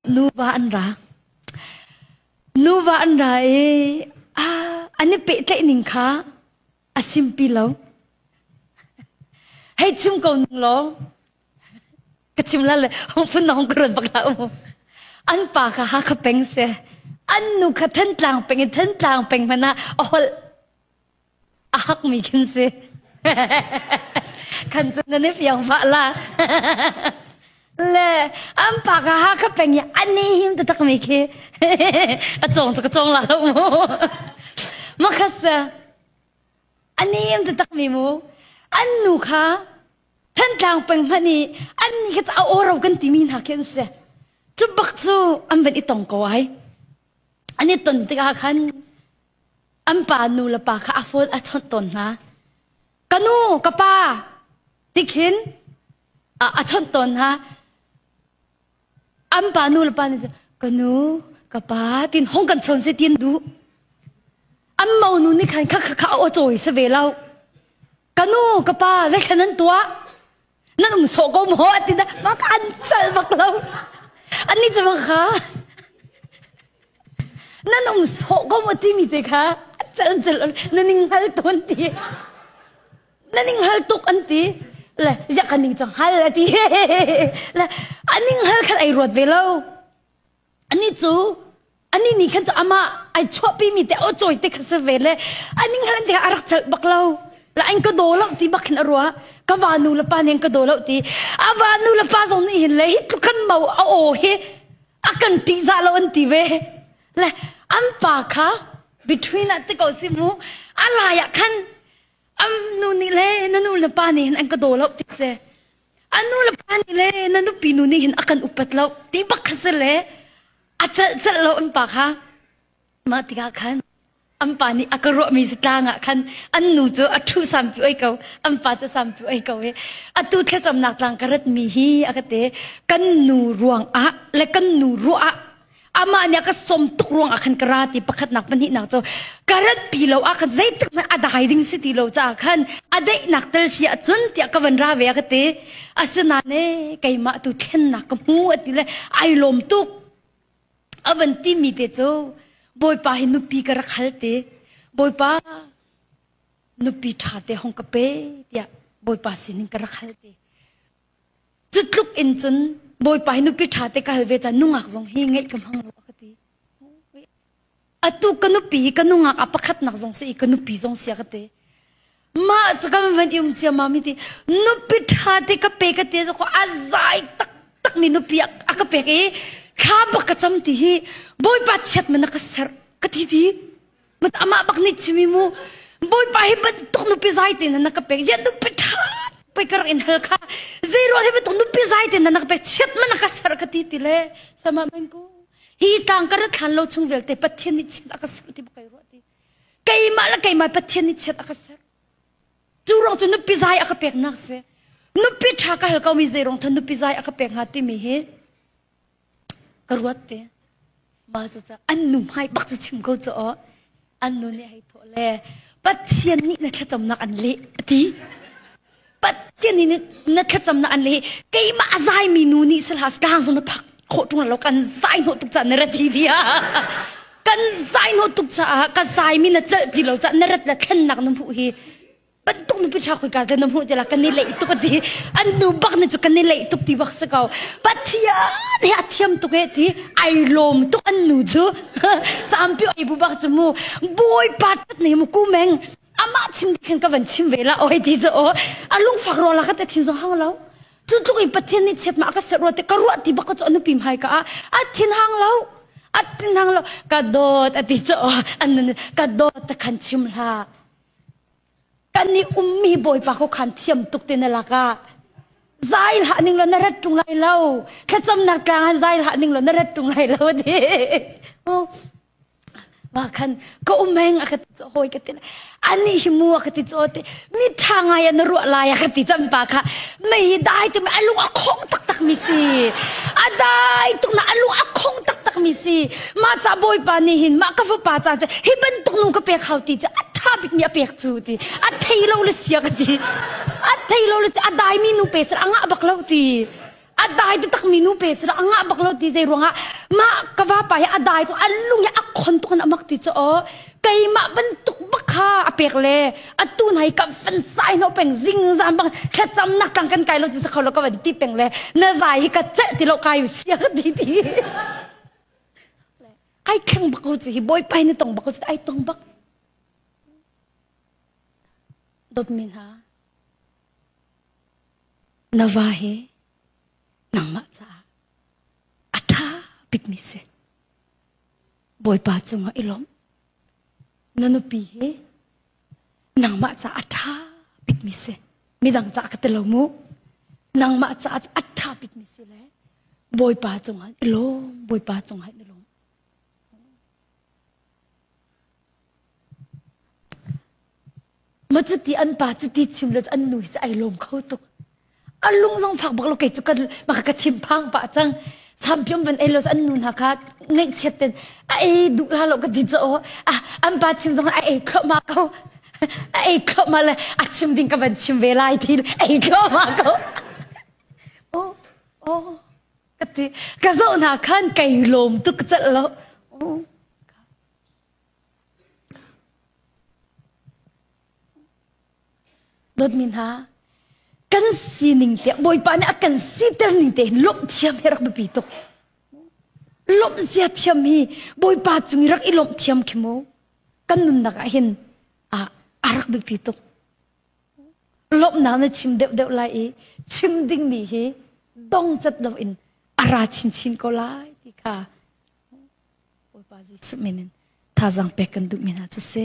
Nuva an ra. Nuva an ra i an i pehtlaihning kha a simpi lo. Hei chim ko ning law, ka chim la le phun nong ka ruat bak la u. An pa kha Hakha peng se, an nu kha Thantlang peng i Thantlang peng hmanh ah a holh. A hakmi khin si. Kan cu nan i fiang mah la. Le an pa ka ha ka peng i ani him te takmi khi ka cong cu ka cong la lo mu. Ma khat se ani him te takmi mu an nu kha Thantlang peng hman i an ni ka a oro kan timi hna khin se. Cu bak cu an ban i tong ko ai. Ani ton tikah khan An pa nulepa kha a fawl a chawnh tawn hna. Ka nu, ka pa ti khin a, a chawnh tawn hna. An pa nulepa nih cun, ka nu, ka pa tin hong kan chawn si tin duh. An monu nih khan kha kha kha a aw cawi sa ve lo. Ka nu, ka pa, zeithlan an tuah? na nung sawh ko maw a ti na ma ka an sal bak lo an ni cuma kha na nung sawh ko maw timi te kha cal cal na ning hal ton ti na ning hal tuk an ti le yak kan ning chang hal a ti le aning hal khan ai ruat ve lo Ani cu ani nih khan cu amah ai chuahpimi te aw cawi te kha si ve le ani nghan te a rak celh bak lo la an ka daw lo ti bak hin a ruah ka va nu le pa nih an ka daw lo ti a va nu le pa zong nih hin le hi tluk khan mo a aw hi a kan ṭih za lo an ti ve le an pa kha between ah te ko si mu a lai ah khan an nu nih le na nu le pa nih hin an ka daw lo ti si A nulepa nih le na nupinu nih hin a kan upat lo ti pakhat si le a celh celh lo an pa kha mah tikah khan an pa nih a ka ruahmi zatlang ah khan an nu cu a ṭhu sampi oi ko an pa cu sampi oi ko i atu thlacamnak tlang ka ratmi hi a ka te kan nu ruang ah le kan nu ruah ah amah nih a ka som tuk ruang ah khan ka ra ti pakhatnak pahnihnak cu ka rat pi lo ah khan zeitik hmanh a dai ding si ti lo caah khan a daihnak tal si ah cun tiah ka van ra ve a ka ti asinain keimah tu thlennak ka hmu a ti le ai lawm tuk a van ti mi te cu bawipa hi nupi ka rak hal ti bawipa nupi ṭha te hong ka pe tiah bawipa sinin ka rak hal ti Cutluk in cun Bawipa hi nupi ṭha te ka hal ve caah nungak zong hi ngeih ka hmang lo a ka ti. Atu ka nupi hi ka nungak a pakhatnak zong si i ka nupi zong si a ka ti. Mah cu ka van i um ciammam i ti nupi ṭha te ka pe ka ti cu a zai taktak mi nupi a ka pek i thla bak ka cam ti hi Bawipa chiat ma na ka serh ka ti ti. Mat amah bak nih chimi mu Bawipa hi bantuk nupi zai te na ka pek yan nu petha pekar in hal kha zeiro hi bantuk nupi zai te na ka pek chiat mana ka sar ka ti ti le sama men ku hi tang kar thlan lo chung vel te pathian ni chiat aka sar ti kai ro ti keima la keima pathian ni chiat aka sar chu rong chu nupi zai aka pek nak se nupi tha ka hal kau mi zeirong than nupi zai aka pek ha ti mi hi ka ruat te. Mah cucaah an nu hmai bak cu chim ko caw. An nu nih hei thawh le Pathian nih na thlacamnak an leh a ti. Pathian nih na thlacamnak an leh keimah a zaimi nu nih sal has kaang zan na thak khawh ṭung lo kan zai hnawh tuk caah na rat hi ti kan zai hnawh tuk caah ka zaimi na celh ti lo caah na rat le thlennak na hmuh hi bantuk mi piṭha khoi ka na hmuh ti la kan i leih tuk a ti an nu bak ne chu kan i leih tuk ti bak si ko pathian he a thiam tuk he ti ai lawm tuk an nu chu sampi oi bu bak chu mu bui pat tat nei mu kumeng amah chim khin ka van chim ve la oi ti zo a lung fak ro la ka te thin zo hang lo tu tluk i pathian ni chet ma ka se ro te ka ro ti bak chu anu pim hai ka a thin hang lo atin hang lo ka dawt ati cho an ka dawt ta khan chim hla Kan i ummi Bawipa kho khan thiam tuk te na lakah zai hlah ning law na rat ṭung lai lo. Thlacamnak tlangah zai hlah ning law na rat ṭung lai lo a ti. Oh. Ma khan ka umeng a ka ti cu hoi ka ti ani hi mu a ka ti cu te mi ṭha ngai a na ruah lai a ka ti champa kha mei dai tu a lung a khong taktak mi si a dai tuk na a lung a khong taktak mi si Mah ca bawipa nih hin mah ka fapa ca cu hi bantuk nu ka pek hau ti cu a ṭha bikmi a pek cu ti a thei lo le sia ka ti a thei lo le a daimi nu pe sir a ngah bak lo ti a dai te takmi nu pe sir a ngah bak lo ti zei ruangah mah ka vapa hi a dai tu a lung hi a khon tuk in a mak ti cu o keimah bantuk bakha a pek le atu nai ka fan sai no peng zingzam bang thlacam nak kang kan kai lo chi sa kho lo ka va ti peng le na zai hi ka ceh ti lo kai sia ka ti ti Ai thleng bak ko cu hi bawipai na tong bak ko cu ai tong bak. Dawtmi hna, na va hi nangmah caah a ṭha bikmi si. Bawipa cungah i lawmh. Na nupi hi Nangmah caah a ṭha bikmi si. Midang caah ka ti lo mu. Nangmah caah cu a ṭha bikmi si le Bawipa cungah i lawm. Bawipa cungah i lawm. Maw cuti an pa cuti chim le an nu hi cu ai lawm kho tuk. a lung zong fak bak lo kei cu maka ka thinphang pah cang sampiom van ei los an nu hna kha ngaihchiat ten a ei duh la lo ka ti cho a an pa chim zong a ei thloma ko a ei thloma le a chim ding ka van chim ve lai thi ei thloma ko o o ka ti ka zo hna khan kai lom tuk cal lo o Dawtmi hna, kan sining te Bawipa nih a kan siter ning te hin lawmh thiam hi rak biapi tuk. Lawmh zia thiam hi Bawipa cung i rak i lawmh thiam khi mu kan nunnak ah hin a, a rak biapi tuk. Lawmhnak na chim deuhdeuh lai i chim dingmi hi dongcat loin a ra chinchin ko lai ti kha Bawipa Jesuh min in thazaang pek kan duhmi hna cu si.